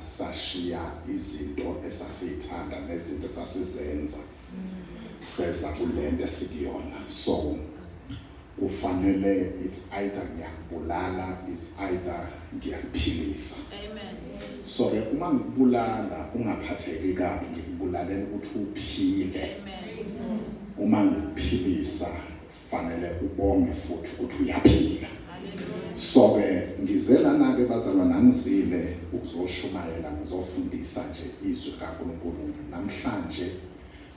Sashiya izinto esasiythanda nezinto esasizenza seza kulento esikuyona so kufanele it's either ngiyakubulala is either ngiyakuphilisa so ke uma ngikubulala ungaphatheki kabi ngikubulalela ukuthi uphile uma ngikuphilisa fanele ubonge futhi ukuthi uyaphila so-ke ngize lana-ke bazalwa nangizile ukuzoshumayela ngizofundisa nje izwi likankulunkulu namhlanje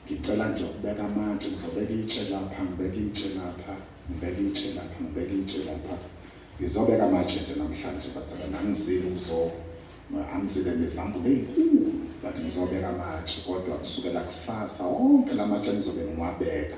ngicela nje ukubeka amatshe ngizobeka itshe lapha ngibeka itshe lapha ngibeka itshe lapha ngibeka itshe lapha ngizobeka amatshe nje namhlanje bazalwa nangizile uzo angizile nezambulo ey'nkulu but ngizobeka amatshe kodwa kusukela kusasa wonke la matshe ngizobe ngiwabeka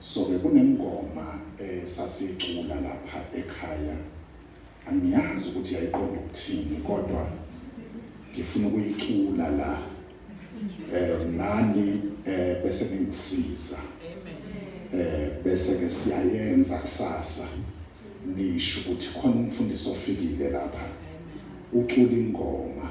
So ke kunengoma esasicula lapha ekhaya angiyazi ukuthi yayiqonda ukuthini kodwa ngifuna ukuyicula la eh nani eh bese ngisiza eh bese ke siyayenza kusasa nisho ukuthi khona umfundisi ofikile lapha ucula ingoma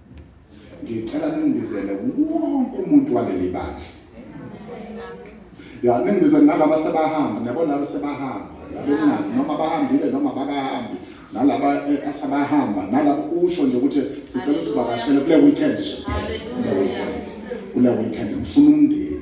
ngicela ningibizele wonke umuntu waleli bandla ya ningibizele nalaba sebahamba niyabo laba sebahamba laba engazi noma bahambile noma bakahambi nalaba eh, asebahamba nalaba usho nje ukuthi sicela usivakashele kule weekend nje kule weekend kule weekend ngifuna umndeni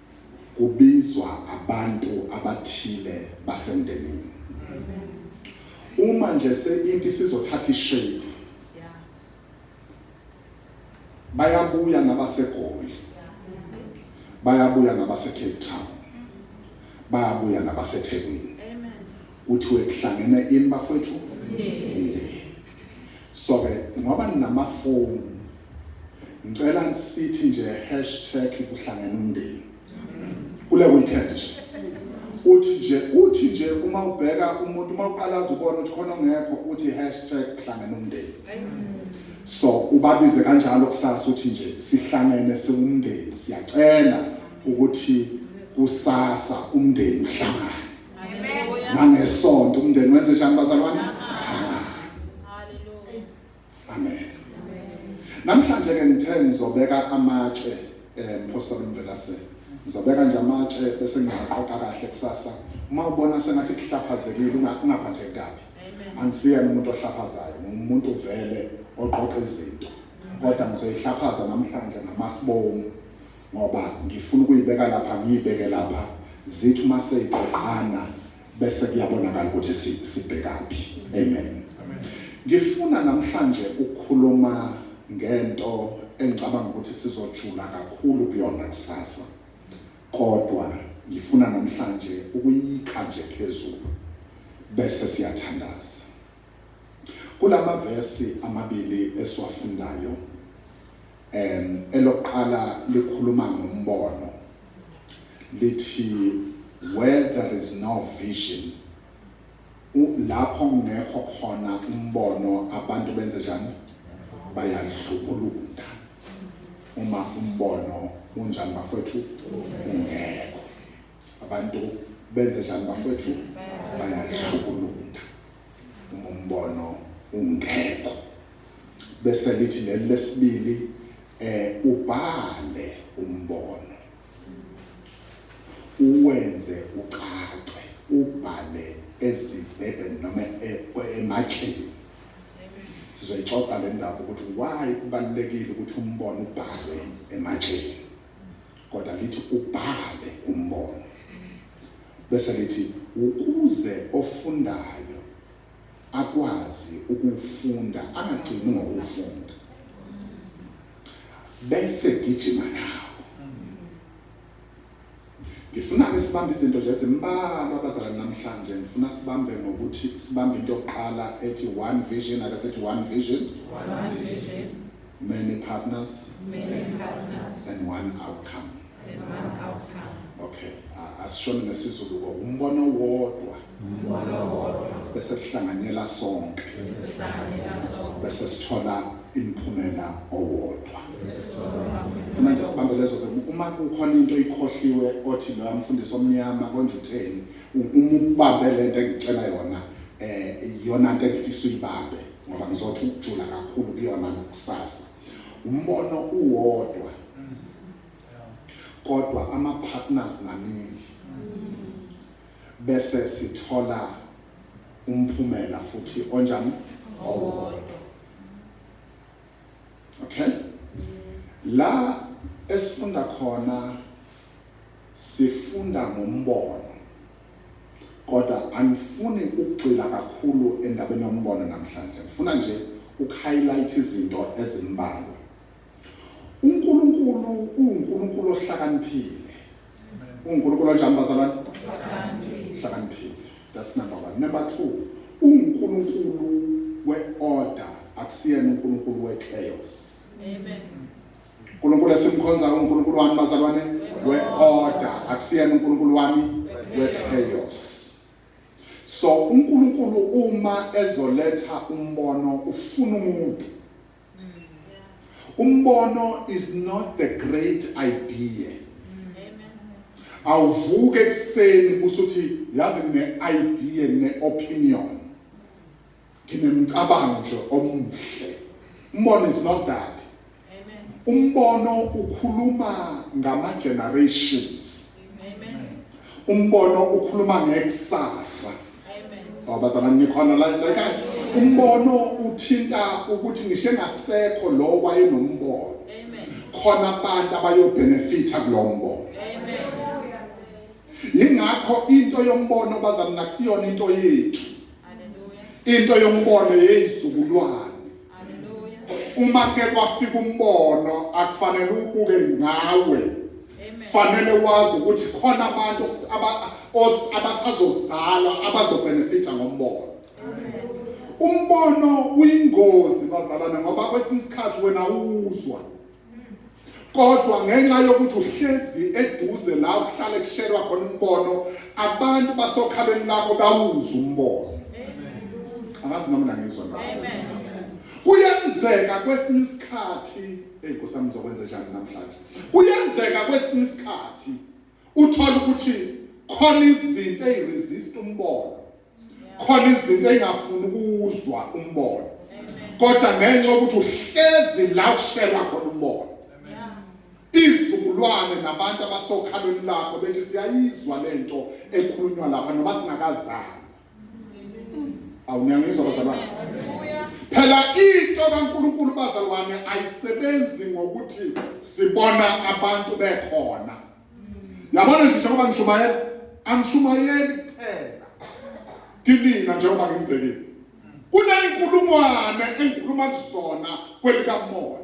kubizwa abantu abathile basemndenini. Uma nje seinti isizothatha ishape, bayabuya nabaseGoli, bayabuya nabaseCape Town, bayabuya nabaseThekwini. Kuthiwe kuhlangene ini bafowethu? Umndeni. Soke ngoba ninamafomu ngicela sithi nje hashtag kuhlangene umndeni kule weekend nje uthi nje uthi nje uma ubheka umuntu uma uqala azubona ukuthi khona ongekho uthi hashtag kuhlangene umndeni so ubabize kanjalo kusasa uthi nje sihlangene siwumndeni siyacela ukuthi kusasa umndeni uhlangane nangesonto umndeni wenze njani bazalwane amen namhlanje ke ngithe ngizobeka amatshe eh mphostoli mvelase ngizobeka nje amatshe bese ngiyaqoqa kahle kusasa uma ubona sengathi kuhlaphazekile ungaphatheki kabi angisiyena umuntu ohlaphazayo ngumuntu vele oqoqa izinto kodwa ngizoyihlaphaza namhlanje ngamasibomu Ngoba ngifuna ukuyibeka lapha ngiyibeke lapha zithi uma seyiqoqana bese kuyabonakala ukuthi si, sibhekaphi. Amen. Ngifuna namhlanje ukukhuluma ngento engicabanga ukuthi sizojula kakhulu kuyona kusasa, kodwa ngifuna namhlanje ukuyikha nje phezulu bese siyathandaza. Kulama vesi amabili esiwafundayo en elokuqala likhuluma ngombono lithi where there is no vision u lapho kungekho khona umbono abantu benze njani bayadlubulunda uma umbono unjani bafwethu ungekho Abantu benze njani bafowethu? Bayahlukulunda uma umbono ungekho. Bese lithi leli lesibili eh ubhale umbono uwenze ucace ubhale ezibhebheni noma e- ematsheni sizoyixoxa le ndaba ukuthi why kubalulekile ukuthi umbono ubhalwe ematsheni Kodwa lithi ubhale umbono bese lithi ukuze ofundayo akwazi ukuwufunda angagcini ngokuwufunda bese gijima nawo. Ngifuna-ke sibambe izinto nje ezimbalwa abazalwane namhlanje. Ngifuna sibambe ngokuthi sibambe into yokuqala ethi one vision, ake sithi one vision. One vision. Many partners, Many partners and one outcome. and one outcome. Okay, ah, asishoni ngesiZulu ko umbono wodwa Umbono wodwa bese sihlanganyela sonke sihlanganyela sonke bese sithola imphumela owodwa. sesithola Funa nje sibambe lezo zinto. Uma kukhona into ikhohliwe othi loya mfundisi omnyama konje utheni, u- uma ubambe lento engitshela yona eh iyona into engifisa uyibambe. ngoba ngizothi ukujula kakhulu kuyona kusasa umbono uwodwa kodwa ama partners maningi bese sithola umphumela futhi onjani owodwa okay la esifunda khona sifunda ngombono Kodwa angifuni ukugxila kakhulu endabeni yombono namhlanje. Ngifuna nje ukuhayilayitha izinto ezimbalwa. UNkulunkulu uwuNkulunkulu ohlakaniphile. UNkulunkulu onjani bazalwane? Ohlakaniphile. That's number one. Number two, uNkulunkulu we-order akusiyena uNkulunkulu we-chaos. Amen. uNkulunkulu esimkhonzayo uNkulunkulu wami bazalwane we-order akusiyena uNkulunkulu wami we-chaos so uNkulunkulu uma ezoletha umbono ufuna umuntu umbono is not the great idea awuvuke ekuseni usuthi yazi ne-idea ne-opinion Nginemcabango nje omuhle. Umbono is not that. Umbono ukhuluma ngama generations. Umbono ukhuluma ngekusasa. Babazana nikhona la ekhaya. Umbono uthinta ukuthi ngishe ngasekho lo wayenombono. Khona abantu abayobenefita kulombono. Ingakho into yombono bazana nakusiyona into yethu. into yombono yeyizukulwane uma ke kwafika umbono akufanele ubuke ngawe fanele wazi ukuthi khona abantu abasazozalwa abazobenefita ngombono umbono uyingozi bazalwane ngoba kwesinye isikhathi wena uwuzwa Kodwa ngenxa yokuthi uhlezi eduze la uhlale kushelwa khona umbono, abantu basokhalweni lakho bawuza umbono. Angazi noma nangizwa na. Kuyenzeka kwesinye isikhathi, hey Nkosi yami ngizokwenza njani namhlanje? Kuyenzeka kwesinye isikhathi uthola ukuthi khona izinto eziresist umbono. khona izinto engafuni ukuzwa umbono kodwa ngenxa ukuthi uhlezi la kushelwa khona umbono izizukulwane nabantu abasokhalweni lakho bethi siyayizwa lento ekhulunywa lapha noma singakazali awuniyangizwa bazalwane phela into kaNkuluNkulu bazalwane ayisebenzi ngokuthi sibona abantu bekhona Yabona nje njengoba ngishumayela, angishumayeli kuphela kinina njengoba ngimbhekile. Kuney'nkulungwane engikhuluma kuzona kwelikamoya.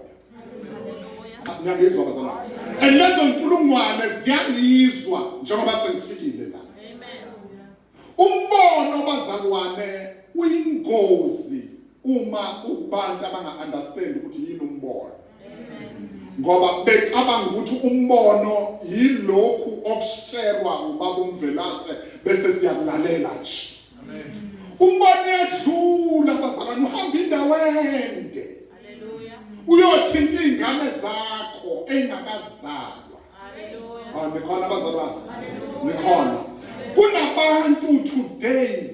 Ngiyangizwa bazalwane. And lezo nkulungwane ziyangizwa njengoba sengifikile la. Umbono bazalwane uyingozi uma ubantu abanga understand ukuthi yini umbono. Ngoba becabanga ukuthi umbono yilokhu okusherwa ubaba umvelase bese siyakulalela nje. Amen. Umbono yadlula bazalwane uhamba indawo ende. Haleluya. Uyothinta ingane zakho engakazali. Haleluya. Nikhona abazalwane. Nikhona. Kunabantu today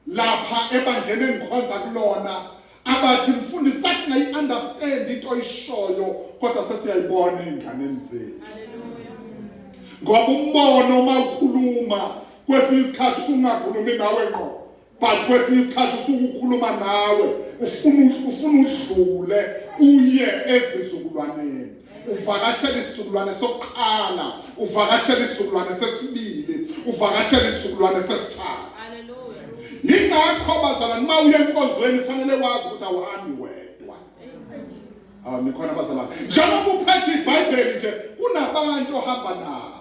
lapha ebandleni engikhonza kulona abathi mfundisi sasingayi understand into oyishoyo kodwa sesiyayibona ezinganeni zethu. Haleluya. Ngoba umbono uma ukhuluma kwesinye isikhathi sungakhulumi nawe ngqo. but kwesinye isikhathi usuke ukhuluma nawe ufuna ufuna udlule uye ezizukulwaneni uvakashela isizukulwane sokuqala uvakashela isizukulwane sesibili uvakashela isizukulwane sesithathu yingakho bazalwane uma uye enkonzweni fanele wazi ukuthi awuhambi wedwa awu nikhona bazalwane njengoba uphethe ibhayibheli nje kunabantu ohamba nabo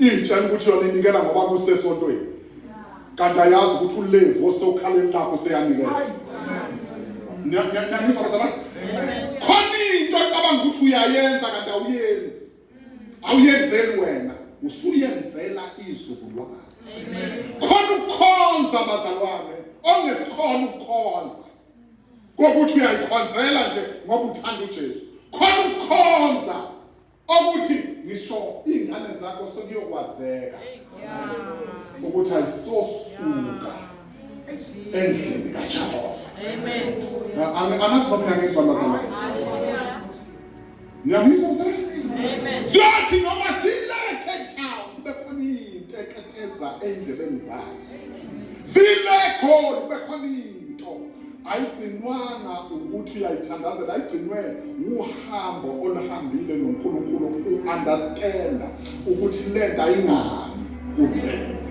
Iyitshela ukuthi yona inikela ngoba kusesontweni. Kanti ayazi ukuthi uLevi osokhaleni lakho seyanikela. Niyangizwa bazalwane? Khona into ocabanga ukuthi uyayenza kanti awuyenzi. Awuyenzeli wena, usuyenzela izukulwane. Khona ukukhonza bazalwane, ongesikhona ukukhonza. Kokuthi uyayikhonzela nje ngoba uthanda uJesu. Khona ukukhonza okuthi ngisho iy'ngane zakho sekuyokwazeka ukuthi ayisosuka endlini kajehova angazi mina ngizwa mazalwane ngiyamizwa mzalwane ziyothi noma zilethe town kube khona iy'nteketeza ey'ndlebeni zazo zile khona kube khona Into ayigcinwanga ukuthi uyayithandazela, ayigcinwe wuhambo oluhambile noNkulunkulu u-understanda ukuthi lento ayingani kuphela.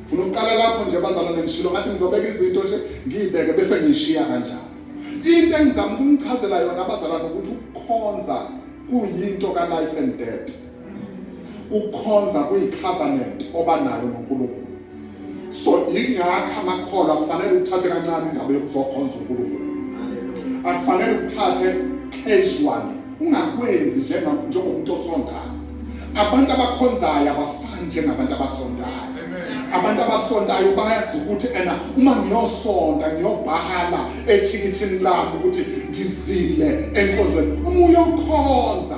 Funa ukuqala lapho nje bazalwane ngishilo ngathi ngizobeka izinto nje ngiyibeke bese ngiyishiya kanjalo. Into engizama ukumchazela yona abazalwane ukuthi ukukhonza kuyinto ka life and death. ukukhonza kuyicovenant oba nayo noNkulunkulu so yingakho amakholwa kufanele uthathe kancane indaba yokuzokhonza uNkulunkulu akufanele uthathe casually ungakwenzi njengomuntu osondayo abantu abakhonzayo abafani njengabantu abasondayo abantu abasontayo bayazi ukuthi ena uma ngiyosonta ngiyobhala ethikithini lami ukuthi ngizile enkonzweni uma uyokhonza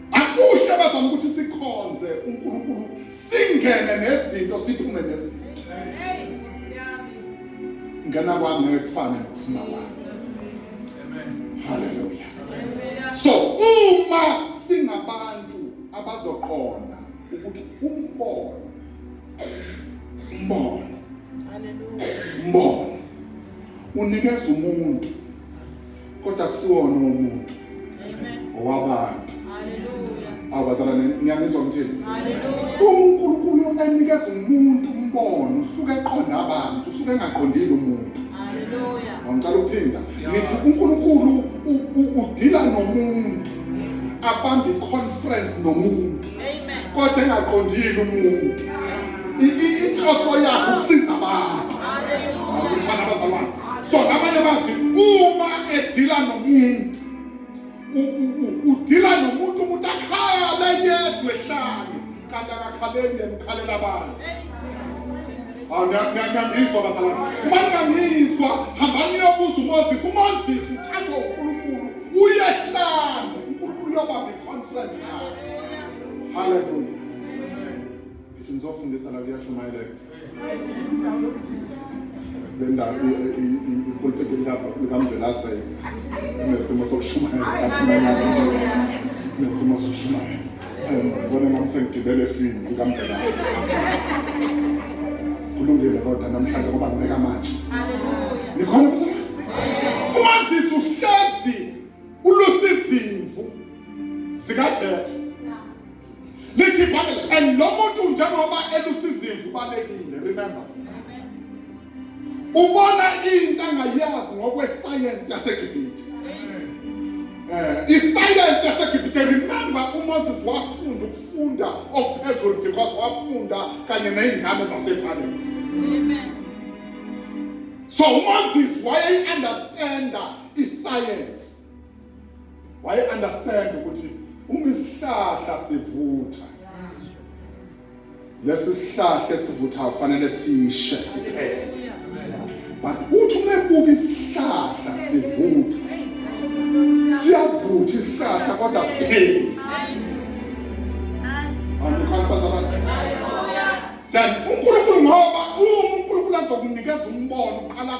Akuhle bazama ukuthi sikhonze uNkulunkulu singene nezinto siphume nezinto. Ngena kwami ngeke kufane nokuphuma kwami. Amen. Hallelujah. Amen. So uma singabantu abazoqonda ukuthi umbono umbono umbono unikeza umuntu kodwa akusiwona umuntu owabantu awubazala ngiyanizwa ngithini unkulunkulu enikeza umuntu umbono usuke eqonda abantu usuke engaqondile umuntu ngicela ukuphinda ngithi unkulunkulu udila nomuntu abambe iconference nomuntu kodwa engaqondile umuntu inhloso yakhe ukusiza abantu awukhona abazalwane so ngabanye bazi uma edila nomuntu udila nomuntu umuntu akhale yedwa ehlane kanti akakhaleli yemkhalela abantu ngiyangizwa bazalwane uma ngingangizwa hambani uyobuza umozisi umozisi uthathwa unkulunkulu uyehlane unkulunkulu uyobamba iconference naye haleluya Ngithi ngizofundisa la kuyashumayeleka. Le ndawo ipulpiti likamvelasele nesimo sokushumayela nesimo sokushumayela ngibona nami sengigibele efini likamvelase kulungile kodwa namhlanje ngoba ngibeka manje nikhona umazisi uhlezi ulusizimvu zikajesu lithi ibhayibheli and lo muntu njengoba elusizimvu ubalekile remember ubona into angayazi ngokwesayensi yasegibhithe eh, isayensi yasegibhithe remember umoses wafunda ukufunda okuphezulu because wafunda kanye ney'ngane zasephalesi so umoses wayeyi-understanda isayensi waye understand ukuthi uma isihlahla sivutha lesi sihlahla esivutha kufanele sishe siphele but uthi uma ebuka isihlahla sivutha siyavutha isihlahla kodwa siphele andikhona bazaba then uNkulunkulu ngoba uNkulunkulu azokunikeza umbono uqala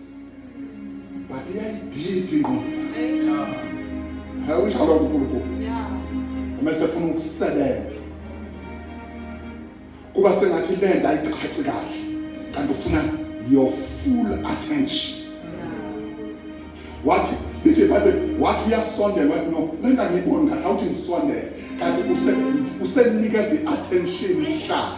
but iyayididi ingqondo hayi ushalwa unkulunkulu uma sefuna ukusebenza kuba sengathi le nto ayicaci kahle kanti ufuna your full attention wathi lithi ibhayibheli wathi uyasondela wathi no le nto angiyiboni kahle awuthi ngisondele kanti usenikeza i-attention isihlahla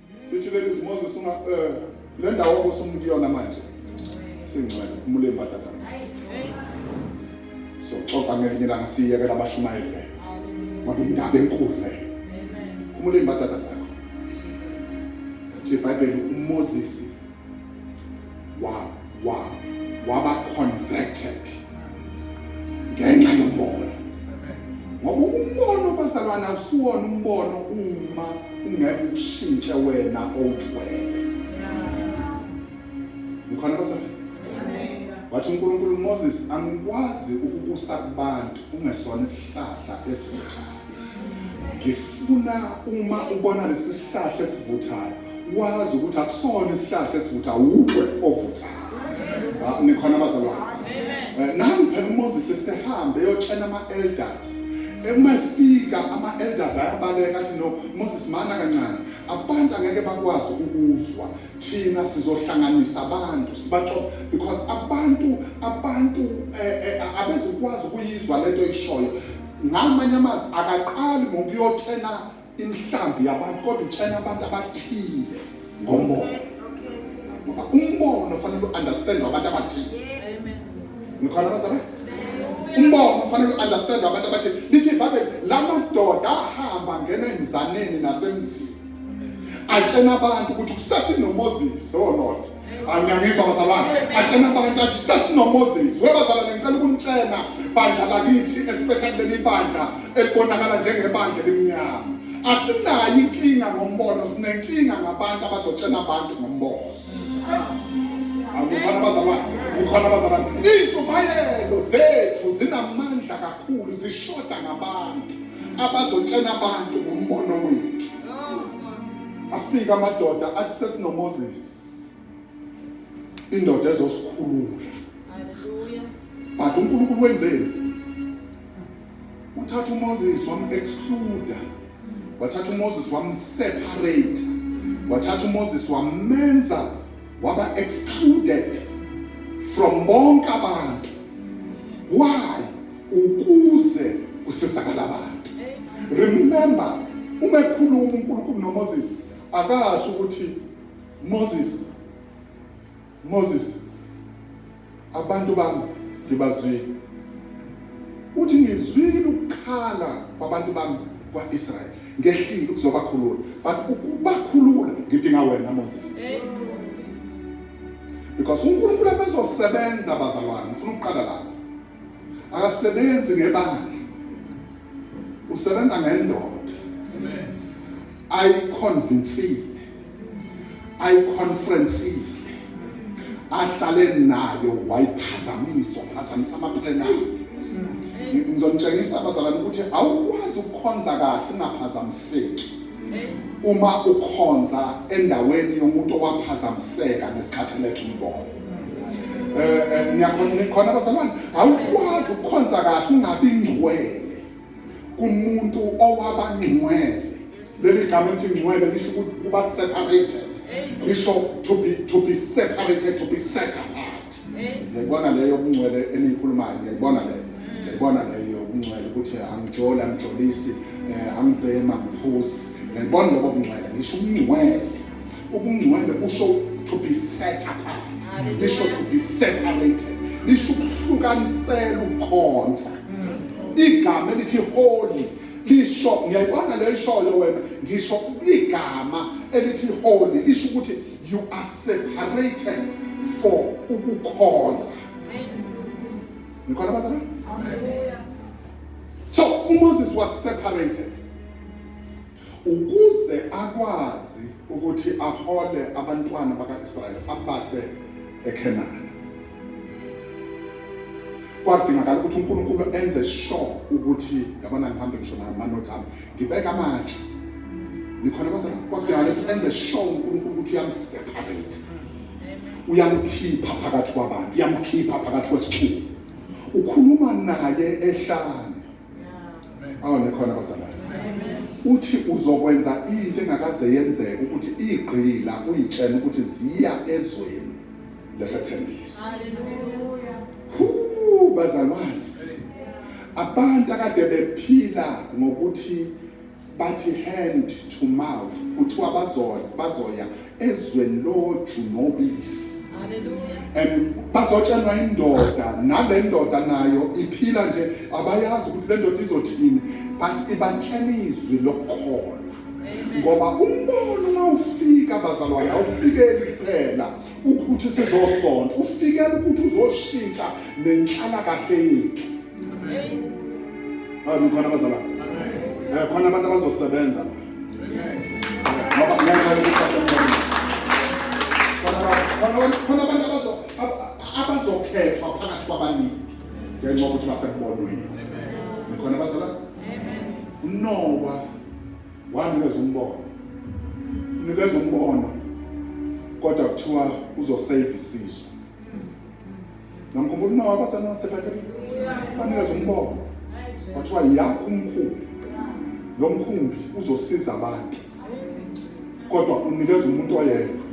Lithulele izwi Moses unga eh le ndawo obusumu kuyona manje. Singcwele umule imbadakazi. So xoxa ngelinye langa siyekela abashumayele. Ngoba indaba enkulu le. Umule imbadakazi. Thi Bible uMoses wa wa waba converted ngenxa yombona ngoba umbono bazalwana usuwona umbono uma ungeke ushintshe wena owuthwele ukhona bazalwana wathi uNkulunkulu Moses angikwazi ukukusa kubantu ungesona isihlahla esivuthayo ngifuna uma ubona lesi sihlahla esivuthayo wazi ukuthi akusona isihlahla esivutha wuwe ovuthayo nikhona abazalwane eh, nami phela umoses esehambe eyotshela ama-elders uma efika ama-elders ayabaleka athi no moses mana kancane abantu angeke bakwazi ukuzwa thina sizohlanganisa abantu sibaxo because abantu abantu eh, eh, abezukwazi ukuyizwa lento ishoyo ngamanye amazwi akaqali ngokuyotshela inhlambi yabantu kodwa utshena abantu abathile ngomoya ngoba umbono ufanele u-understand abantu abathile ngikhona abazalwane umbono ufanele u-understand abantu abathile lithi ibhayibheli la madoda ahamba ngena emzaneni nasemzini atshena abantu ukuthi kusasinoMoses olodwa oh anyangiswa bazalwane atshena abantu athi sesinoMoses webazalwane ngicela ukunitshena bandla lakithi especially leli bandla elibonakala njengebandla elimnyama asinayo inkinga ngombono sinenkinga ngabantu abazotshena abantu ngombono akukhona bazalwane kukhona bazalwane iintshumayelo zethu zinamandla kakhulu zishoda ngabantu abazotshena abantu ngombono wethu afika amadoda athi sesinoMoses indoda ezosikhulula but uNkulunkulu wenzeni uthatha uMoses wam exclude wathatha uMoses wam separate wathatha uMoses wamenza waba excluded from bonke abantu why ukuze kusizakala abantu remember uma ekhuluma uNkulunkulu noMoses Akasho ukuthi Moses Moses abantu bami ngibazwile. Uthi ngizwile ukukhala kwabantu bami kwaIsrael. Ngehlile ukuzobakhulula. But ukubakhulula ngidinga wena Moses. Because uNkulunkulu abezosebenza bazalwane. Ngifuna ukuqala lapho. akasebenzi ngebandla usebenza ngendoda ayiconvincile ayiconferencile ahlale nayo wayiphazamisa waphazamisa amaphilweni akhe ngizonitshengisa abazalwane ukuthi awukwazi ukukhonza kahle ungaphazamiseki uma ukhonza endaweni yomuntu owaphazamiseka ngesikhathi letha umbono eh, eh ngiyakhona ngikhona basamani awukwazi ukukhonza kahle ungabi ngcwele kumuntu owaba ngcwele leli gama lithi ngcwele lisho ukuthi kuba separated lisho to be to be separated to be set apart ngiyayibona leyo yobungcwele eniyikhulumayo ngiyayibona leyo ngiyayibona leyo yobungcwele ukuthi angijoli angijolisi eh, angibhema ngiphuzi ngiyayibona lobo bungcwele ngisho ubungcwele Ubungcwele busho to be set apart. Lisho to be separated. Lisho ukuhlukanisela ukukhonza. Igama elithi holy lisho ngiyayibona le ishoyo wena ngisho igama elithi holy lisho ukuthi you are separated for ukukhonza. Nikhona bazalwane? Amen. So uMoses was separated. Ukuze akwazi ukuthi ahole abantwana baka-Israyeli abase eKhenani, kwadingakala ukuthi uNkulunkulu enze sure ukuthi yabona ngihambe ngisho namanothi ami ngibeka amatshe nikhona kwase kwadingakala ukuthi enze sure uNkulunkulu ukuthi uyamseparate uyamkhipha phakathi kwabantu uyamkhipha phakathi kwesixuku ukhuluma naye ehlane awu nikhona bazalwane uthi uzokwenza into engakaze yenzeke ukuthi igqila uyitshela ukuthi ziya ezweni lesethembiso bazalwane abantu akade bephila ngokuthi Bathi hand to mouth kuthiwa bazoya bazoya ezweni loju nobisi. And bazotshelwa indoda nale ndoda nayo iphila nje abayazi ukuthi le ndoda izothini but ibatshela izwi lokukholwa ngoba umbono uma ufika bazalwane awufikeli kuphela ukuthi sizosonta ufikela ukuthi uzoshintsha nenhlalakahle yethu Amen. Khona abazala. Eh khona abantu abazosebenza. Ngoba ngeke basebenze. Khona abantu khona abantu abazo abazokhethwa phakathi kwabaningi ngenxa yokuthi basekubonweni. Amen. Khona abazala. Amen. Unowa wanikeza umbono. Unikeza umbono kodwa kuthiwa uzosave isizwe. Ngamkhumbula uma wakho senosebatini. Banikeza umbongo. Kwathiwa yakho umkhulu. Lo mkhumbi uzosiza abantu. Kodwa unikeza umuntu oyedwa.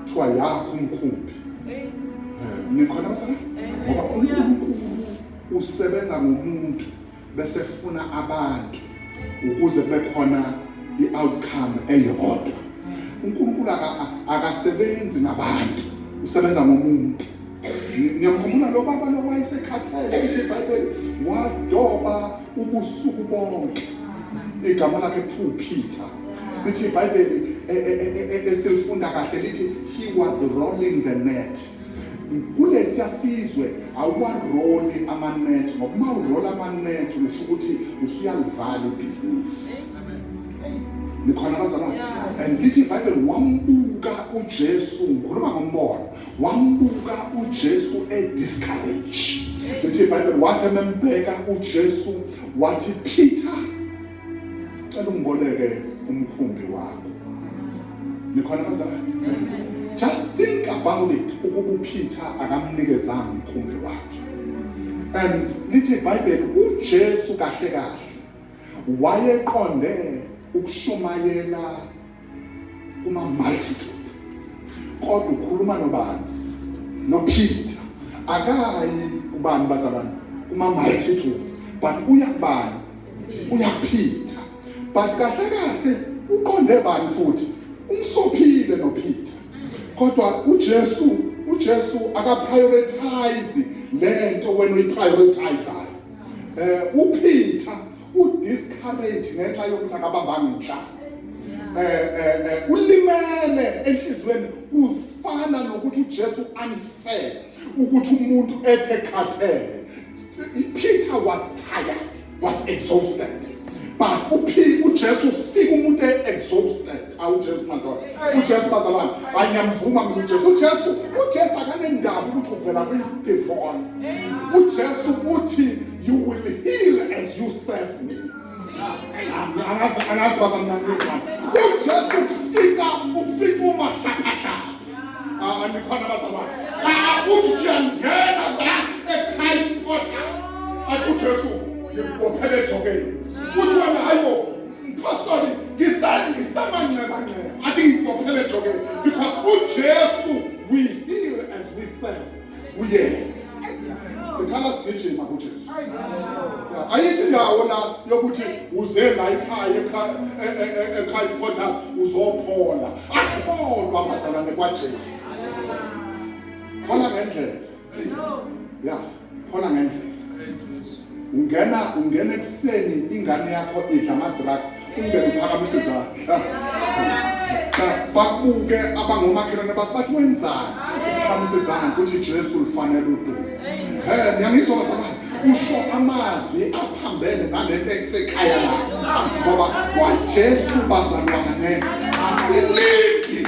Kuthiwa yakho umkhumbi. Eh, nikhona basana? Ngoba uNkulunkulu usebenza ngomuntu. bese funa abantu ukuze kube khona i-outcome eyodwa unkulunkulu akasebenzi ngabantu usebenza ngomuntu ngiyamkhumbula lo baba lo wayesekhathele ukuthi ibhayibheli wadoba ubusuku bonke igama lakhe kuthiwa upeter lithi ibhayibheli e, e, e, esilifunda kahle lithi he was rolling the net kulesiya sizwe awuwaroli amanethi ngoba uma urola amanethi usho ukuthi usuyalivala ibhizinisi nikhona abazalwane and lithi ibhayibheli wambuka ujesu ngikhuluma ngombono wambuka ujesu ediscourage lithi ibhayibheli wathi emembheka ujesu wathi peter Cela ungiboleke umkhumbi wakho. Nikhona bazalwane? Just think about it ukuba uPeter akamnikezanga umkhumbi wakhe. And lithi iBhayibheli uJesu kahle kahle wayeqonde ukushumayela kuma multitude kodwa ukhuluma nobani noPeter akayi kubani bazalwane kuma multitude but uya kubani uya Peter but kahle kahle uqonde bani futhi umsophile noPeter kodwa uJesu uJesu akaprioritize lento wena uyiprioritize eh uPeter udiscourage ngenxa yokuthi akabambanga inhlanzi eh, eh, eh, ulimele enhliziyweni kufana nokuthi uJesu unfair ukuthi umuntu ethe khathele Peter was tired was exhausted but uphili uJesu ufika umuntu exhausted awujesu madoda ujesu bazalwane hayi ngiyamvuma mina ujesu ujesu ujesu akanendaba ukuthi uvela kwi-divorce ujesu uthi you will heal as you serve me angazi bazamnanisa ujesu kufika ufika umahlaphahla andikhona bazalwane uthi uyangena la ekhaya portals athi ujesu ngibophelejokeni uthi wena hayibo Mphostoli ngisale ngisamanxebanxeba athi ngibophele ejokeni because uJesu we heal as we serve uyena sikhala sigijima kuJesu ayikho indawo la yokuthi uze la ikhaya eChrist Porters uzophola akholwa abazalwane kwaJesu khona ngendlela yeah khona ngendlela ungena ungena ekuseni ingane yakho idla ama-drugs ungena uphakamise izandla bakubuke abangomakhelwane bakho bathi wenzani uphakamise izandla ukuthi jesu lufanele udumo he niyangizwa bazabani usho amazwi aphambene nalento esekhaya lakho ngoba kwajesu bazalwane asilindi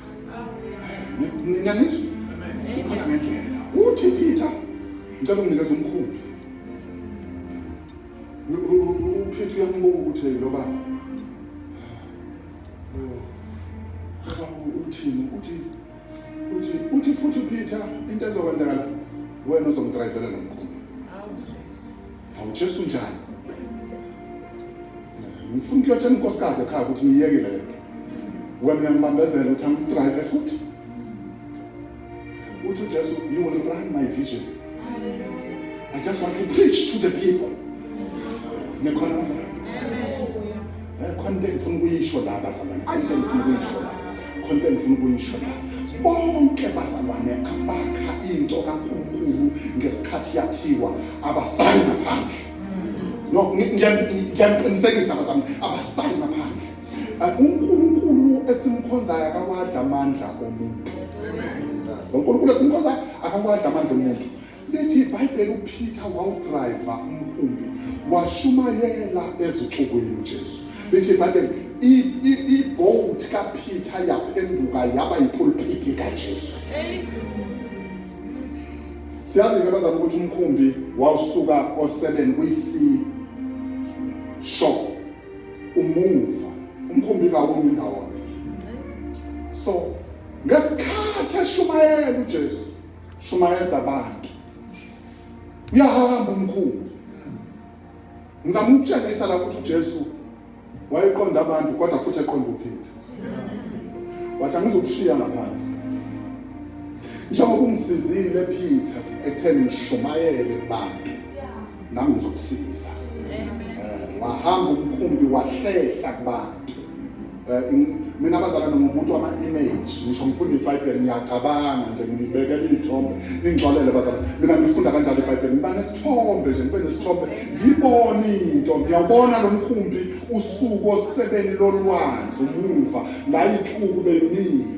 Ngiyanizwa. Sikhona ngendlela. Uthi Peter ngicela unginikeza umkhumbi. UPeter uyambuka ukuthi lo baba. Uthini uthi uthi uthi futhi Peter into ezokwenzakala wena uzomdrivela nomkhumbi. Hawu Jesu njani? Ngifuna ukuyotshela unkosikazi ekhaya ukuthi ngiyekile lento. Wena uyangibambezela ukuthi angidrive futhi. Uthi uJesu, you will run my vision. I just want to preach to the people. Ngikhona bazalwane. Eh, khonto engifuna ukuyisho la bazalwane khonto engifuna ukuyisho la khonto engifuna ukuyisho la bonke bazalwane abakha into kaNkulunkulu ngesikhathi yakhiwa abasayi ngaphandle no ngiyaqinisekisa bazalwane abasayi ngaphandle eh, uNkulunkulu esimkhonzayo akawadla amandla omuntu uNkulunkulu esimkhonzayo akawadla amandla omuntu Lithi iBhayibheli uPeter wawudrayiva umkhumbi washumayela ezixukwini uJesu. Lithi iBhayibheli ibhowuthi kaPeter yaphenduka yaba yipulpiti kaJesu. Siyazi ke bazama ukuthi umkhumbi wawusuka o7 kwi-C shop umuva umkhumbi kawumi ndawonye. So ngesikhathi eshumayela uJesu shumayeza abantu uyahamba umkhulu ngizama ukutshengisa la ukuthi uJesu wayeqonda abantu kodwa futhi eqonda uPeter wathi angizokushiya ngaphandle njengoba ungisizile Peter ekutheni ngishumayele kubantu nami ngizokusiza eh, wahamba umkhumbi wahlehla kubantu mina abazalwane ngumuntu wama-image ngisho ngifunda ibhayibheli ngiyacabanga nje ngibekela iy'thombe ningixolele bazalwane mina ngifunda kanjalo ibhayibheli ngiba nesithombe nje ngibe nesithombe ngibone into ngiyawubona lo mkhumbi usuku osebeni lolwandle umuva la ithluku beyimile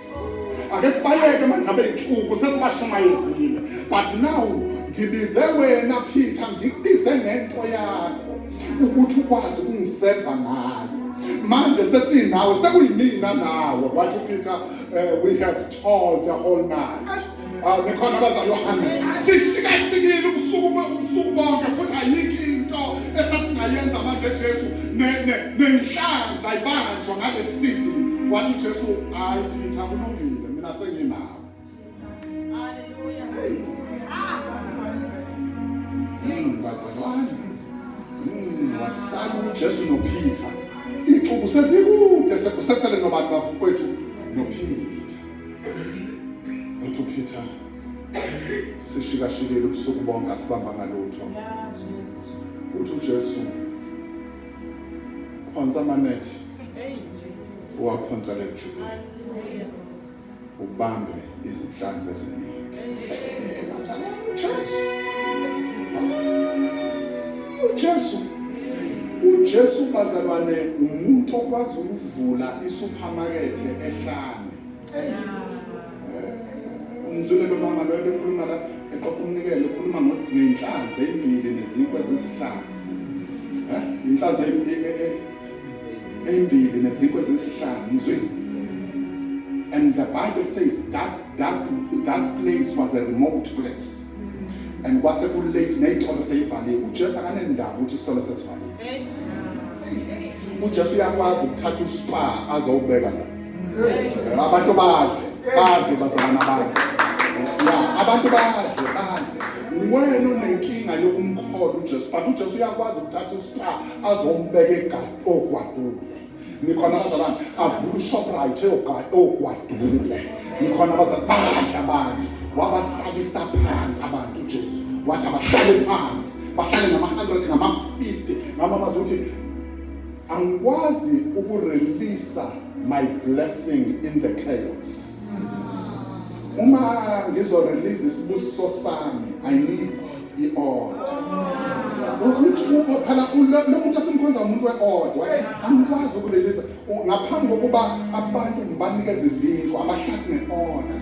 ake sibaleke mangabe inhluku sesibashumayezile but now ngibize wena Peter ngikubize ngento yakho ukuthi ukwazi ukungiseva ngayo manje sesinawe sekuyimina nawe wathi uPeter uh, we have told the whole night awu bekhona abazalwane sishikashikile ubusuku ubusuku bonke futhi ayikho into esasingayenza manje Jesu nenhlanza ibanjwa ngalesisi wathi Jesu hayi Peter kulungile mina senginawo bazalwane hmm, wasala ujesu nophitha iy'cubu sezikude sekusesele nobantu bafowethu nophitha uthi uphitha sishikashikele ubusuku bonke asibambanga lutho uthi ujesu khonza amanethi uwakhonza lejulu ubambe izinhlanzi eziningi jesu ujesu ujesu bazalwane umuntu okwazi ukuvula isupermarket ehlane umzulelo mama loyo bekhuluma la eqoqa umnikelo ukhuluma ngenhlanzi eyimbili nezinkwa ezisihlanu eh, inhlanzi eyimbili nezinkwa ezisihlanu mzwini and the bible says that that that place was a remote place and kwase ku late neyitolo seyivaliwe uJesu akanendaba ukuthi isitolo sesivaliwe uJesu uyakwazi ukuthatha uSpa azowubeka la abantu badle badle bazalwana bami ya abantu badle badle wena unenkinga yokumkhola ujesu but ujesu uyakwazi ukuthatha uspa azombeka egadi ogwadule nikhona abazalwane avula ushoprite ogwadule nikhona abazalwane badla abantu wabahlalisa phansi abantu ujesu wathi abahlale phansi bahlale ngama-hundred ngama-fifty ngamamazi ukuthi Angikwazi uku release my blessing in the chaos. Uma ngizo release isibusiso sami, I need i order. Ukuthi phela lo muntu esimkhonza umuntu we order. Angikwazi uku release ngaphambi kokuba abantu ngibanikeze izinto abahlaki ne order.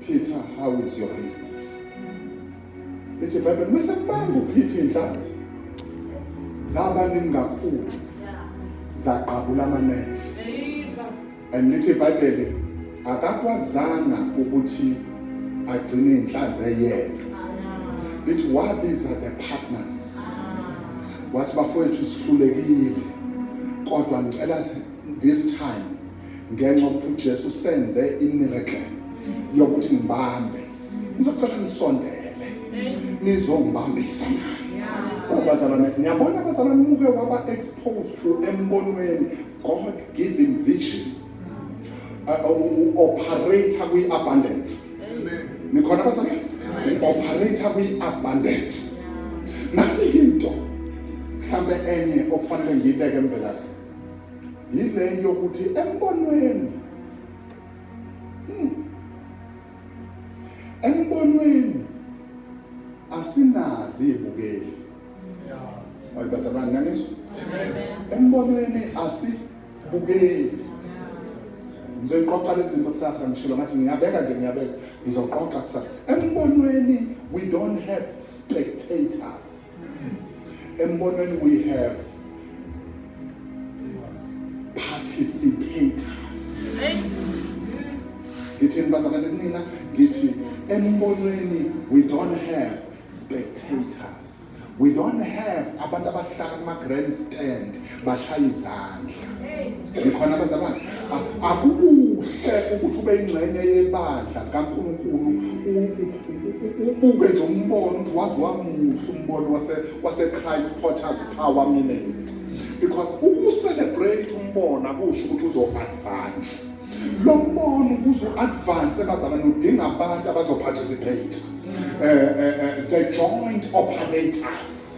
Peter, how is your business? Ethi Bible mesebanga uPeter inhlanzi. Zaba ningakhulu. Zaqabula amanet. Jesus. And lithi Bible akakwazanga ukuthi agcine inhlanzi eyedwa. Lithi wabiza the partners. Wathi bafowethu sihlulekile kodwa ngicela this time ngenxa ukuthi uJesu senze imiracle yokuthi ngibambe ngizocela nisondele nizongibambisa bazalwane ngiyabona abazalwane umuke waba exposed to embonweni god given vision uh, uh, operator kwi-abundance nikhona abazalwane operator kwi-abundance nathi into mhlawumbe enye okufanele ngiyibeke emvelasi yile yokuthi embonweni hmm, embonweni asinazi ibukeli hayi bazalwane nangizwa embonweni asibukeli ngizoyiqoqa lezinto kusasa ngishilo ngathi ngiyabeka nje ngiyabeka ngizoqoqa kusasa embonweni we don't have spectators embonweni we have participators ngithi nibazalane nina ngithi embonweni we don't have spectators we don't have abantu abahlala kuma-grandstand bashaya izandla ngikhona abazalwane akukuhle ukuthi ube ingxenye yebandla kaNkulunkulu ubuke nje umbono ukuthi wazi wamuhle umbono wase wase Christ Potter's Power Ministry because ukucelebrate umbona kusho ukuthi uzo advance lo mbono ukuze advance abazalwane udinga abantu abazo participate eh, eh, eh, the joint operators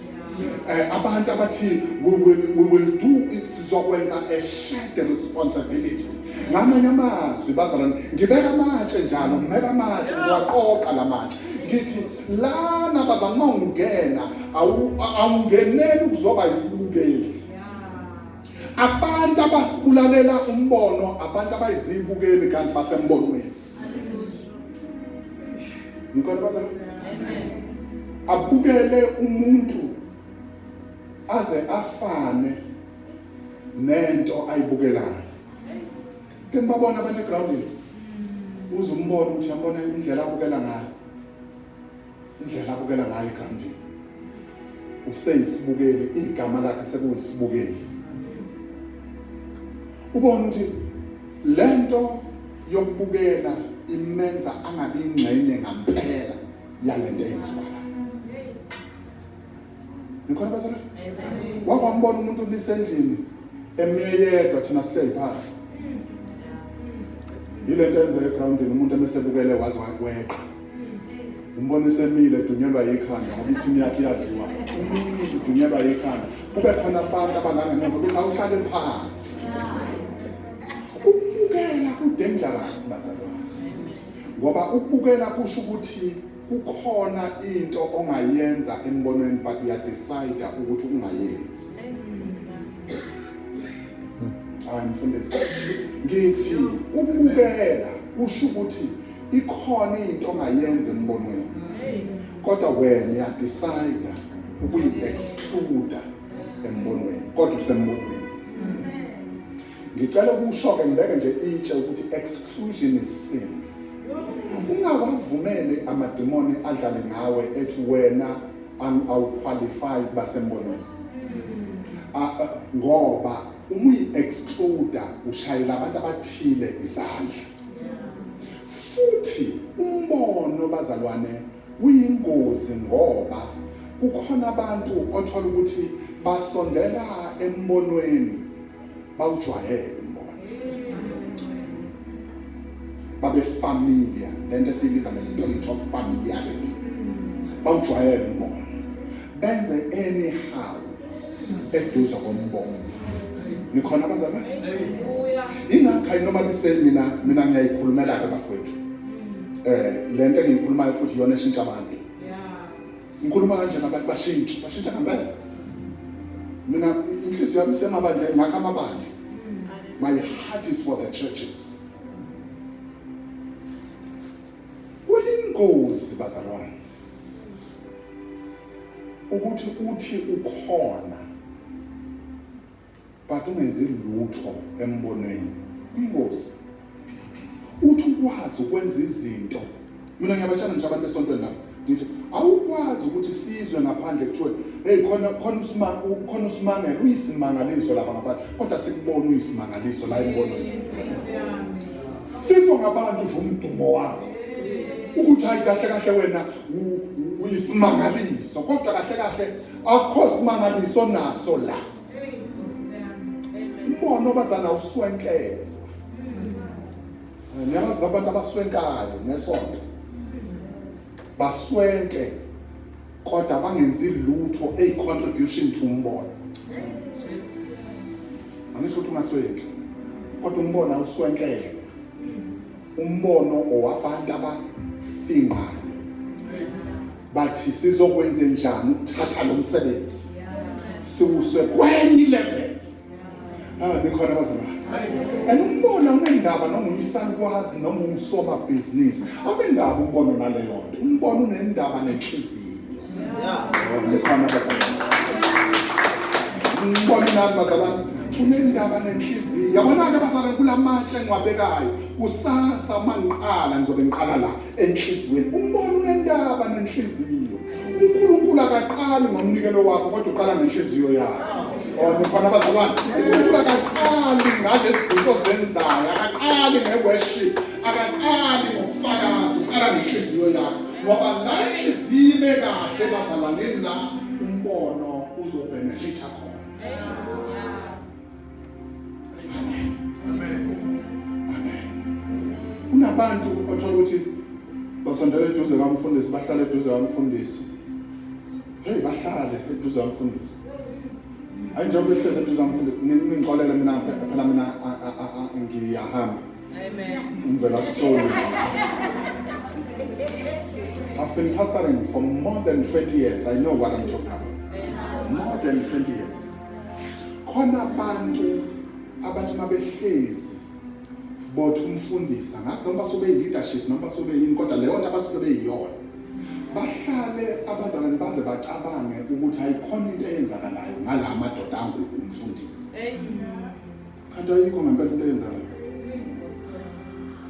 Uh, abantu abathile we will, we will do sizokwenza a shared responsibility ngamanye amazwi bazalwane ngibeka amatshe njalo ngibeka amatshe ngizowaqoqa la matshe ngithi lana bazalwane uma ungena awungeneli ukuzoba isibukeli abantu abasibulalela umbono abantu abayizibukeli kanti basembonweni Ngikona baza. Amen. Abukele umuntu aze afane nento ayibukelayo. Ke babona abanye groundini. Uzumbona ukuthi yabona indlela abukela ngayo. Indlela abukela ngayo eGrandville useyisibukeli, igama lakhe sekuyisibukeli. Ubona ukuthi lento yokubukela imenza angabi ingxenye ngampela yalento eyenziwayo. Ngikhona basana? Wake wambona umuntu lisendlini emeyedwa thina sihleli phansi. Yile nto enzeka egroundini umuntu emesebukele waze wakweqa. Umbona isemile dunyelwa yikhanda ngoba ithimu yakhe iyadliwa. Umile dunyelwa yikhanda. Kube khona abantu abangangemuva ukuthi awuhlale phansi. Ukubukela kudangerous bazalwane. Ngoba ukubukela kusho ukuthi Kukhona into ongayenza embonweni but uya decide ukuthi ungayenzi. Hayi mfundisi. Ngithi ukubukela kusho ukuthi ikhona into ongayenza embonweni. Kodwa wena uya decide ukuyi exclude embonweni kodwa usembonweni. Ngicela ukusho-ke ngibeke nje itshe ukuthi exclusion is sin. Ungawavumeli amademoni adlale ngawe ethi wena awuqualify kuba sembonweni. Ngoba uma uyi-excluda ushayela abantu abathile izandla. Futhi umbono bazalwane Kuyingozi ngoba kukhona abantu othola ukuthi basondela embonweni bawujwayele umbono. Babe familiar lento esiyibiza nge spirit of familiarity. Bawujwayele umbono. Benze anyhow eduze kombono. Nikhona abazalwane? Ingakho ayinoma biseni mina mina ngiyayikhulumela ke bafowethu. eh le nto engiyikhulumayo futhi iyona eshintsha abantu ngikhuluma kanje nabantu bashintshe bashintsha ngempela mina inhliziyo yami isemabandleni ngakho amabandla my heart is for the churches kuyingozi bazalwane ukuthi uthi ukhona but ungenzi lutho embonweni ingozi uthi ukwazi ukwenza izinto mina ngiyabatshana ngisho abantu esontweni lapho ngithi awukwazi ukuthi sizwe ngaphandle kuthiwe hey khona khona usimanga khona usimanga uyisimangaliso lapha ngaphandle kodwa sikubona uyisimangaliso la embonweni sizwe ngabantu nje umdumo wakho ukuthi hayi kahle kahle wena uyisimangaliso kodwa kahle kahle akho simangaliso naso la umona obazana uswenkelwa niyabazi abantu abaswenkayo nesonto baswenke kodwa bangenzi lutho a contribution to umbono angisho ukuthi ungaswenki kodwa umbono awuswenkelwe umbono owabantu abafingqayo bathi sizokwenze njani ukuthatha lo msebenzi siwuse kwenye level ah nikhona abazalwane and umbona unendaba noma uyisalukwazi noma usomabhizinisi awunendaba umbono naleyo nto umbono unendaba nenhliziyo nikhona abazalwane umbono nani bazalwane unendaba nenhliziyo yabona-ke abazalwane kula matshe engiwabekayo kusasa uma ngiqala ngizobe ngiqala la enhliziyweni. Umbona unentaba nenhliziyo. UNkulunkulu akaqali ngomnikelo wakho kodwa uqala ngenhliziyo yakho. Oh, nikhona bazalwane. UNkulunkulu akaqali ngalezi zinto zenzayo, akaqali nge-worship, akaqali ngokufakaza, uqala ngenhliziyo yakho. Ngoba la inhliziyo ime kahle bazalwaneni la umbono uzobhenefitha khona. kunabantu othola ukuthi basondela eduze kamfundisi bahlale eduze kamfundisi hey bahlale eduze kamfundisi hayi njengoba ehlezi eduze kamfundisi ningixolele mina phela mina ngiyahamba ngivela solo I've been pastoring for more than 20 years. I know what I'm talking about. More than 20 years. khona abantu abathi uma behlezi bothi umfundisa ngazi noma basuke beyi-leadership noma basuke beyini kodwa leyo nto abasuke beyiyona bahlale abazalwane baze bacabange ukuthi ayikhona into eyenzakalayo ngala madoda anguku umfundisi Kanti ayikho ngempela into eyenzayo.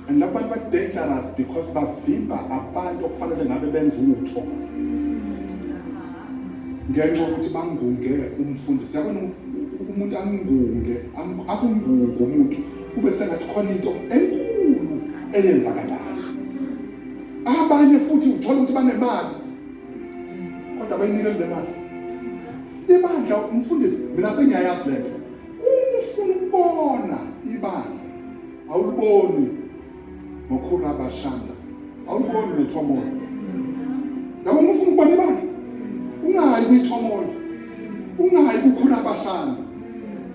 And labo bantu ba dangerous because bavimba abantu okufanele ngabe benza utho. Ngenxa ukuthi bangunge umfundi. Siyabona umuntu angunge, akunguke umuntu kube sengathi khona into enkulu eyenzakalayo. Abanye futhi uthola ukuthi banemali kodwa bayinikele le mali. Ibandla umfundisi mina sengiyayazi lento. Uma ufuna ukubona ibandla awuliboni ngokhula abashanda awuliboni nethomoya yabo uma ufuna ukubona ibandla ungayi kwithomoya ungayi kukhula abashanda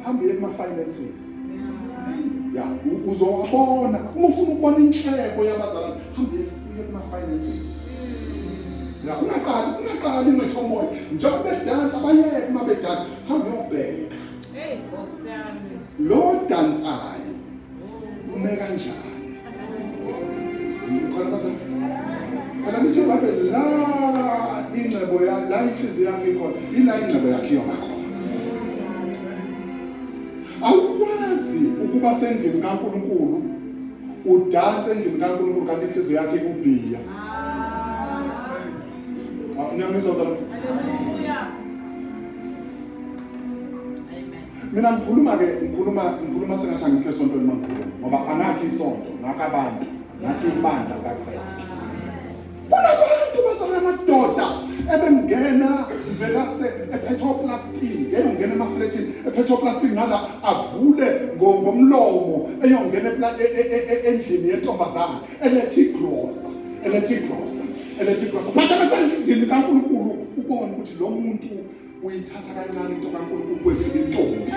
hambe uye kuma-finances ya uzowabona uma ufuna ukubona inhleko yabazalwane hambe uye kuma-finances la ungaqali ungaqali ungethomoya njengoba bedansa bayeke uma bedansa hambe uyobheka Hey Nkosi yami. Lo dansayo ume kanjani? Nikhona base. Kana nithe babe la ingcebo ya la inhliziyo yakhe ikhona. Ila ingcebo yakhe yona khona. Awukwazi ukuba sendlini kaNkuluNkulu udanse endlini kaNkuluNkulu kanti inhliziyo yakhe ikubhiya. Ah. Niyamizwa zalo. Hallelujah. mina ngikhuluma-ke ngikhuluma ngikhuluma sengathi angikho esontweni mangikhuluma ngoba angakho isonto ngakho abantu ngakho ibandla likakristu kunabantu basalona amadoda ebengena velase ephethwa uplastiki eyongena emaflethini ephethwa uplastiki ngala avule ngomlomo eyongena e, e, e, endlini yentombazane eletha igrosa eletha igrosa eletha igrosa phatha besendlini kankulunkulu ubone ukuthi lo muntu uyithatha kancane into kaNkulunkulu kwedlula intombi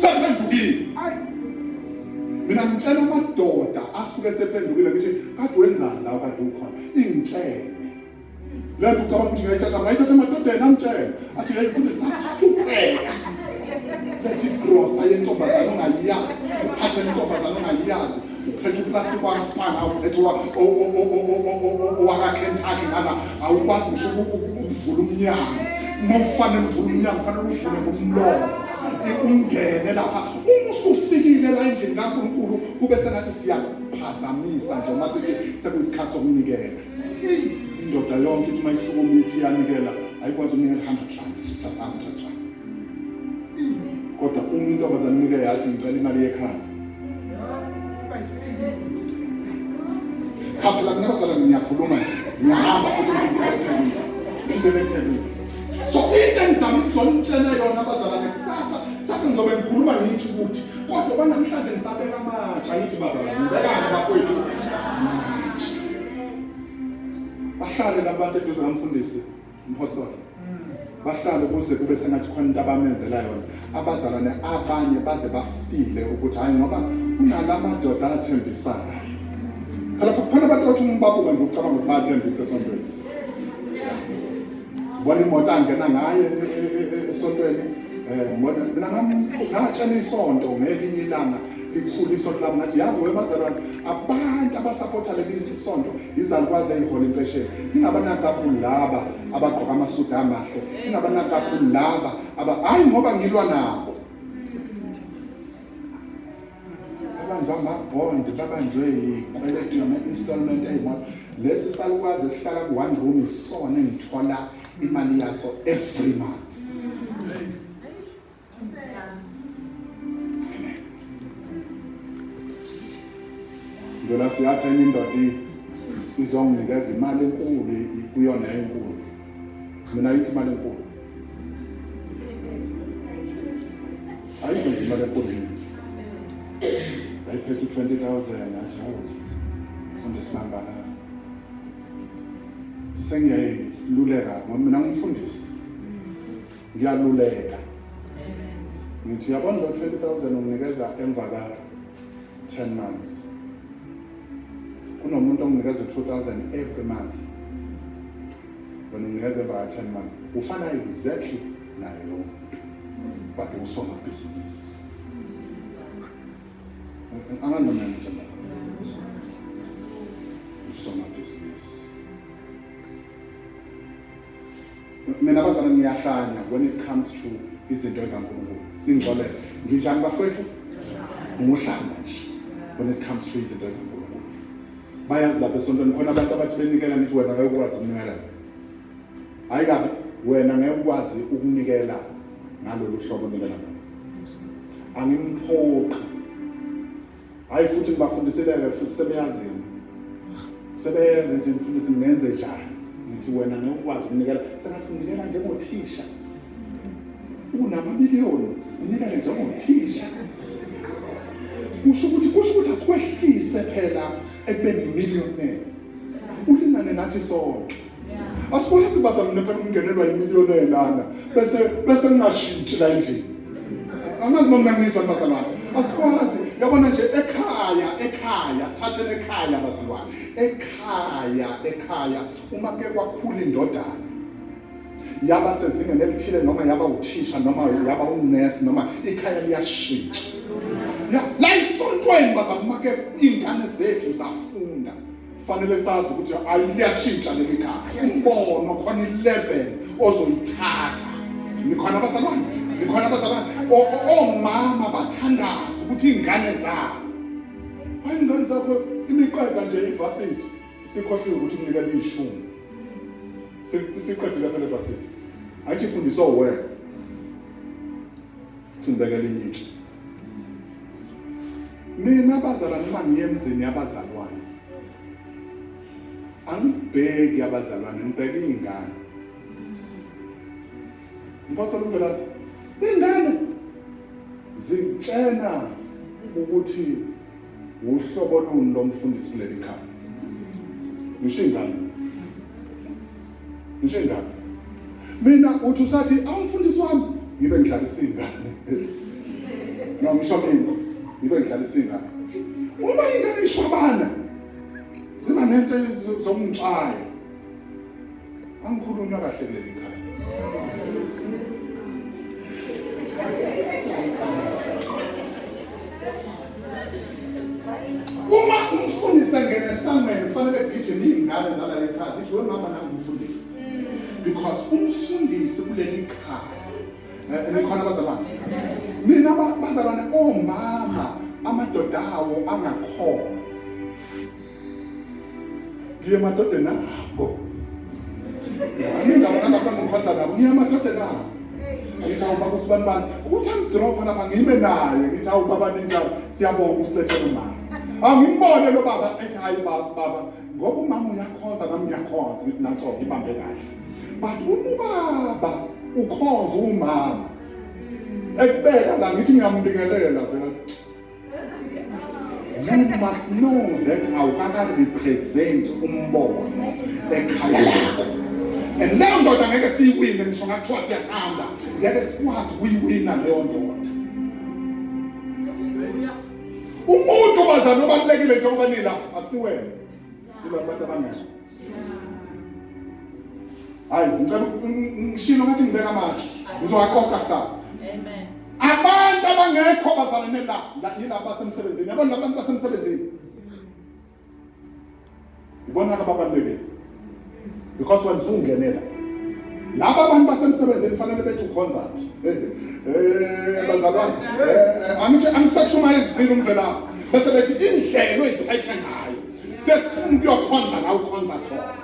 sephendukile mina ngitshela amadoda asuke sephendukile ngithi kade wenzani la kade ukhona ingitshele le nto ucabanga ukuthi ngayithatha ngayithatha emadodeni amtshele athi le mfundo sasahlupheka lethi grosa yentombazane ongayiyazi uphathe intombazane ongayiyazi uphethe uplastic wakaspana awuphethe owakakentucky ngala awukwazi ngisho ukuvula umnyango uma ufanele uvule umnyango fanele uvule ngomlomo ungene lapha uma usufikile la endlini kankulunkulu kube sengathi siyaphazamisa nje uma sithi sekuyisikhathi sokunikela indoda yonke ithi uma isuku mithi iyanikela ayikwazi ukunikela 100 rand just 100 rand kodwa uma intombazane nike yathi ngicela imali yekhanda Cha phela mina bazalwane ngiyakhuluma nje. Ngiyahamba futhi ngibheke eThekwini. Ngibheke eThekwini. So into engizama ukuzonitshela yona abazalwane kusasa kusasa ngizobe ngikhuluma ngithi ukuthi kodwa banamhlanje ngisabeka amatsha ngithi bazalwane ngibekani bafowethu amatsha. Bahlale labantu eduze kamfundisi. Mphosolo. Bahlala ukuze kube sengathi khona into abamenzela yona. Abazalwane abanye baze bafile ukuthi hayi ngoba kunalamadoda athembisayo. Phela kukhona abantu othi umbabuka nje ucabanga ukuthi bathembise esontweni. Bona imoto angena ngayo e- e- e- esontweni. Eh ngibona mina ngam- ngatshela isonto ngelinye ilanga likhulu isonto lami ngathi yazi webazalwane abantu abasapotha leli sonto izalukwazi eyihola impesheni ningabanaki kakhulu laba abagqoka amasudu amahle ningabanaki kakhulu laba aba hayi ngoba ngilwa nabo abantu amabond babanjwe yikweletu yama-installment eyimoto lesi salukwazi esihlala ku-one room isona engithola imali yaso every month ngicela siyatha enye indoda izonginikeza imali enkulu kuyona enkulu mina yithi imali enkulu ayikho nje imali enkulu ayiphethe u-twenty thousand athi hawu funda isinambala sengiyayiluleka ngoba mina ngumfundisi Ngiyaluleka. Ngithi yabona lo 20000 unginikeza emva ka 10 months. Kunomuntu onginikeza 2000 every month. Wena unginikeza emva ka 10 months. Ufana exactly naye lo muntu. But usoma business. Anganoma ngizwa mase. Usoma business. Mina bazana niyahlanya when it comes to izinto ekaNkulunkulu. Ningixolele. Nginjani bafowethu? Nguhlanya nje when it comes to izinto ekaNkulunkulu. Bayazi lapha esontweni khona abantu abathi benikela ngithi wena ngeke ukwazi ukunikela. Hayi kabi wena ngeke ukwazi ukunikela ngalolu hlobo nikela. Angimphoqi Hayi futhi ngibafundisileke futhi sebeyazi yena. Sebeyenza nje mfundisi ngenze njani? Ngithi wena ngeke ukwazi ukunikela. Sengathi unikela njengothisha. Unamamiliyoni unikele njengothisha. Kusho ukuthi kusho ukuthi asikwehlise phela ekubeni millionaire. Ulingane nathi sonke. asikwazi bazalwane phela ukungenelwa yimiliyoni elanda bese bese ngashintshi la endlini angazi noma ngizwa bazalwane asikwazi yabona nje ekhaya ekhaya sithathele ekhaya bazalwane ekhaya ekhaya uma ke kwakhula indodana yaba sezingeni elithile noma yaba uthisha noma yaba unurse noma ikhaya liyashintsha la isontweni bazalwane uma ke iy'ngane zethu zafunda Kufanele sazi ukuthi ayiyashintsha leli gama. Umbono khona 11 ozoyithatha. Nikhona abazalwane? Nikhona abazalwane? Omama bathandaza ukuthi ingane zabo. Hayi ingane zakho imiqeda nje ivasithi. Sikhohliwe ukuthi unikela ishumi. Siqedile phela ivasithi. Athi fundiswa wena. Thindeka lenye into. Mina abazalwane uma ngiye emzini yabazalwane angibheki abazalwane ngibheke iy'ngane mpostoli umvelasi iy'ngane zitshena ukuthi wuhlobo luni lomfundisi kuleli khaya ngisho iy'ngane Ngisho ingane. Mina uthi usathi awumfundisi wami ngibe ngidlalisa ingane. No ngisho mina ngibe ngidlalisa ingane. Uma ingane ishwabana ziba nento zomntshaya. Angikhuluma kahle leli khaya. Uma umfundisi engena esangweni kufanele kugijime iy'ngane zalale ekhaya zithi we mama nami umfundisi because umfundisi kuleli khaya eh, nikhona bazalwane mina bazalwane omama amadoda awo angakhonzi ngiye emadodeni abo nami ngabona abantu angiphatha nabo ngiye emadodeni abo ngithi awu baba usibani bani ukuthi angidropha lapha ngime naye ngithi awu baba ninjalo siyabonga usilethe nomama angimbone lo baba ethi hayi baba ngoba umama uyakhonza nami ngiyakhonza ngithi nanso ngibambe kahle but uma ubaba ukhonza umama ekubeka la ngithi ngiyambingelela vela You must know that awukakarepresent umbono ekhaya lakho and leyo ndoda ngeke siyiwine ngisho ngathiwa siyathanda ngeke sikwazi ukuyiwina leyo ndoda umuntu bazana obalulekile njengoba nila akusiwena kulabantu abangezwa hayi ngicela ngishilo ngathi ngibeka amathe ngizowaqoqa kusasa amen abantu abangekho bazalane la la yilabo basemsebenzini yabona abantu basemsebenzini ibona ababalulekile because when sungenela laba abantu basemsebenzini fanele bethi ukhonza eh, eh bazalwane eh, eh, angithi angisakushumayezile umvelasi bese bethi indlela oyiphethe ngayo sesifuna ukuyokhonza la ukhonza khona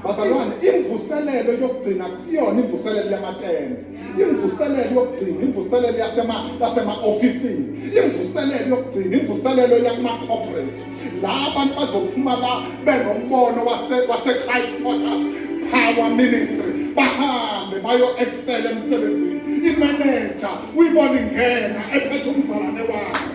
bazalwane imvuselelo yokugcina kusiyona imvuselelo yamatende imvuselelo yokugcina imvuselelo yasema yasema-ofisini imvuselelo yokugcina imvuselelo yakuma-corporate la abantu bazophuma la benombono wase-christ porters power ministry bahambe bayo-excela emsebenzini imeneja uyibona ingena ephethe umzalwane wakhe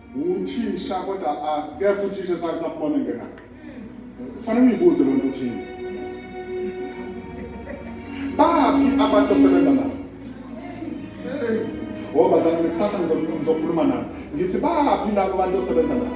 Uthisha kodwa asikekho uthisha esake sambona engena. Kufanele uyibuze lento uthini. Babi abantu osebenza nabo. Oh bazalwane kusasa ngizokhuluma nabo. Ngithi babi labo abantu osebenza nabo.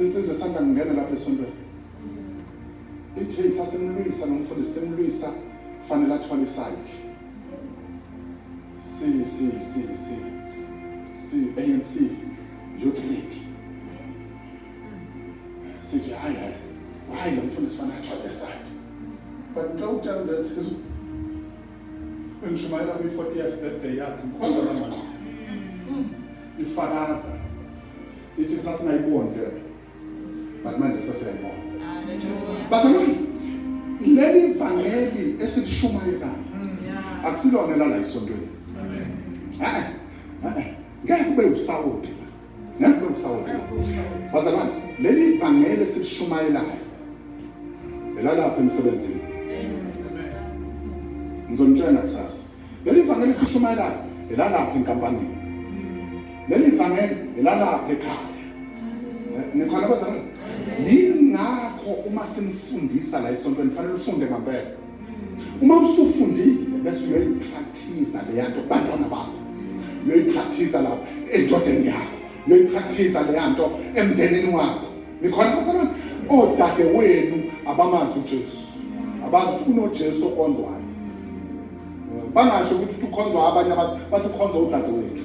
Insizwa esanda kungena lapha esontweni ithi hey sasimlwisa nomfundisi simlwisa kufanele athwale isayidi si si si si si ANC youth league sithi hayi hayi hayi lo mfundisi fanele athwale isayidi but ngicela ukutshela ukuthi Bengishumayela kwi 40th birthday yakhe ngikhonza kanjani? Ifakaza ithi sasingayiboni ke but manje sesiyayibona. Basalweni leli vangeli esilishumayelayo akusilona lala esontweni. Amen. Ngeke ube usawoti. Nakulo msawoti bazalwane, leli vangeli silishumayelayo elalapha emsebenzini. Ngizonitshela kusasa. Leli vangeli sishumayelayo elalapha enkampanini. Leli vangeli elalapha ekhaya. Eh, nikhona bazalwane? Yingakho uma simfundisa la esontweni fanele ufunde ngempela. Uma usufundile bese uyoyipractice leya nto kubantwana bakho, uyoyipractice lapho endodeni yakho, uyoyipractice leya nto emndenini wakho. Nikhona basebenza odade wenu abamazi uJesu, abazi ukuthi kunoJesu okonzwayo, bangasho futhi ukuthi ukhonzwa abanye abantu, bathi ukhonzwa udade wethu.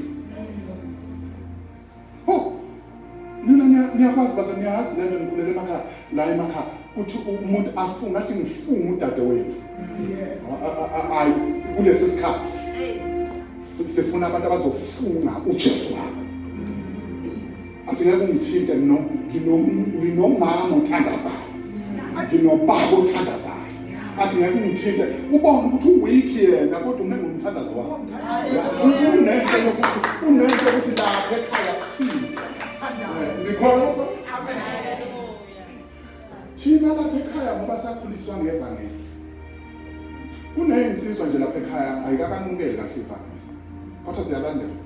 Ho! Nina niya- niyakwazi baze niyazi lento nikhulele emakhaya la emakhaya kuthi umuntu afunge athi ngifunga udade wethu. A- a- a- a- Ayi kulesi sikhathi F- sifuna abantu abazofunga uJesu wabo. Athi ngeke ungithinte no ngino- nginomama othandazayo. Nginobaba othandazayo. athi ngeke ungithinte ubone ukuthi uweak yena kodwa ume ngomthandazo wakho unento yokuthi unento yokuthi lapha ekhaya sithini nikhona thina lapha ekhaya ngoba sakhuliswa ngevangeli kuneyinsizwa nje lapha ekhaya ayikakanukeli kahle ivangeli kodwa ziyalandela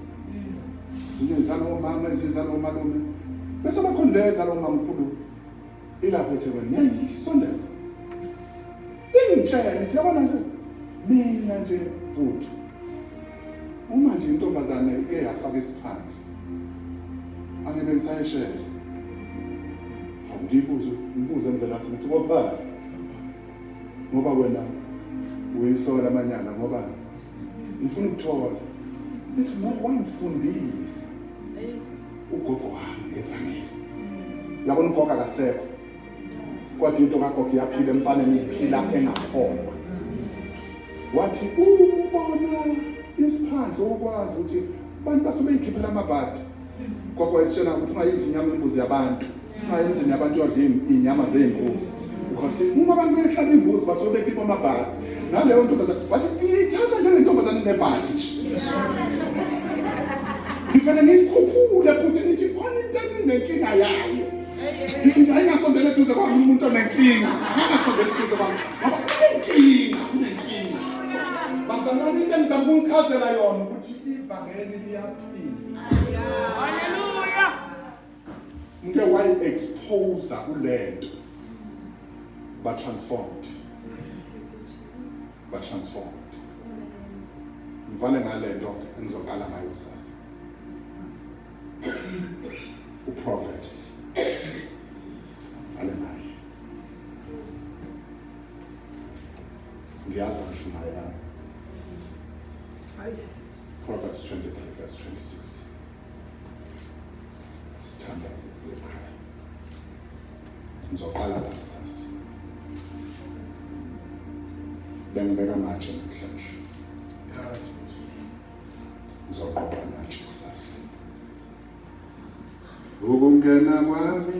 zinye zalomama ezinye zalomalume bese bakhona lezalomamkhulu Ilapho eThekwini ngiyayisondeza. Ingitshela ithi yabona nje mina nje bhuti. Uma nje intombazane ike yafaka isiphandla. Ake bengisayishela. Awuyibuze, ngibuze indlela futhi ngokubala. Ngoba wena uyisola amanyala ngoba ngifuna ukuthola. Lithi ngoba wangifundisa. ugogo wami ngezanele yabona ugogo akasekho kodwa into kagogo iyaphila emfaneni iphila engakholwa wathi ubona isiphandle ukwazi ukuthi abantu base beyikhiphela amabhadi gogo wayesitshela ukuthi ungayidli inyama imbuzi yabantu Hayi emzini yabantu yodla iy'nyama zey'mbuzi because uma abantu behlaba imbuzi basuke bekhipha amabhadi naleyo ntombazane wathi ngiyithatha njengentombazane nebhadi nje ngifele ngiyikhuphule futhi ngithi khona into eninenkinga yayo ngithi nje ayingasondela eduze kwami umuntu onenkinga angasondela eduze kwami ngoba unenkinga unenkinga bazalwane into engizama ukuchazela yona ukuthi ivangeli liyaphila Ngike wayi expose kulento ba transformed. Ba transformed. Ngivale ngalento engizoqala ngayo sasa. U Proverbs. Ngivale naye. Ngiyazi ngisho naye la. Proverbs 23 verse 26. Sithandaze siyokhaya. Ngizoqala la kusasa. Bengibeka amatshe namhlanje. Ngizoqoqa amatshe kusasa. Ukungena kwami